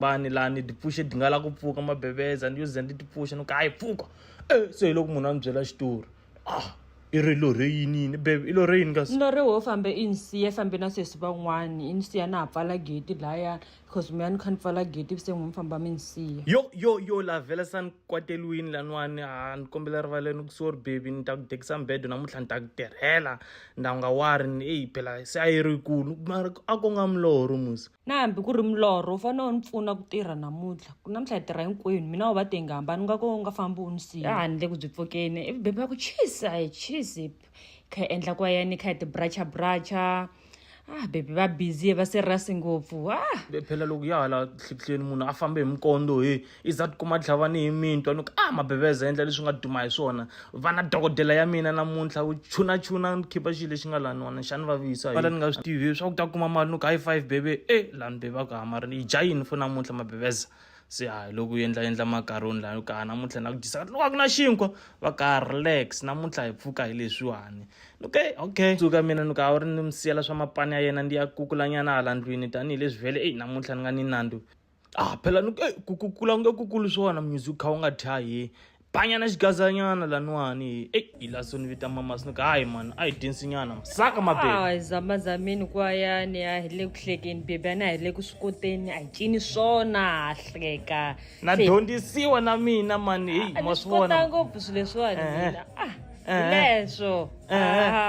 vanhu laha ni ti pfuxe ti nga lava ku pfuka mabebeza ni yo ze ni ti pfuxa ni ku hayi pfuka e se hi loko munhu a ni byela xitori ah i ri lo rhe yini yini bebe i lo rhe yini kasi no ri wo fambe i ni siye fambe na sesi van'wani i ni siya na ha pfala gate laya because mi ya ni kha ni pfala gate ivi se n'wi mi famba mi ni siya yo yo yo la vhela sa ni kwateriwini laniwani ha ni kombela rivaleni ku sorry baby ni ta ku dekisa mbedo namuntlha ni ta ku tirhela nda nga wari ni eyi phela se a yi ri yikulu mara a ko nga milorho musa na hambi ku ri milorho u fanele u ni pfuna ku tirha namuntlha ku namuntlha hi tirha hinkwenu mina u va te nga hambani nga ko u nga fambi u ni siya handle ku byi pfukeni ivi bebi va ku cheese a hi cheese kha hi endla kwa yini kha hi tibracha bracha ah bebi va busy va serious ngopfu ah phela loko ya hala hlihleni munhu a fambe hi mikondo he i za tikuma tlhava ni hi mintwa ni ku a ah, mabeveza endla leswi nga duma hi swona vana dokodela ya mina namuntlha u chuna chuna ni khipa xilo lexi nga laniwana xani va visa vala ni nga swi tivi swa ku ta kuma mali ni ku high five bebe e eh, lani bebe a ku hamari ni yi dya yini fo namuntlha mabeveza se hayi loko u endla endla makaroni laha ka namuntlha na ku dyisa ka loko a ku na xinkwa va ka relax namuntlha hi pfuka hi leswiwani okay okay tsuka mina ni ka a wu ri ni mi siyela swa mapani ya yena ndi ya kukulanyana hala ndlwini tanihileswi vhele eyi namuntlha ni nga ni nandzu ah phela ni eh, ku ku kula nge ku kulu swona munyuzi u kha u nga thya hi banyana xigazanyana laniwani eyi hi la so ni vita mama sini ka hayi mani a hi dyensinyana saka mabebe Ah, zama zameni kwayani a hi le ku hlekeni bebi a na hi le ku swi koteni a hi cini swona ha hleka na Se- dyondzisiwa na mina mani heyi a ma ni swi swi kota vona ngopfu swilo leswiwani Eh, eh. mina ah Eh, eh. hileswo Eh, eh. Ah,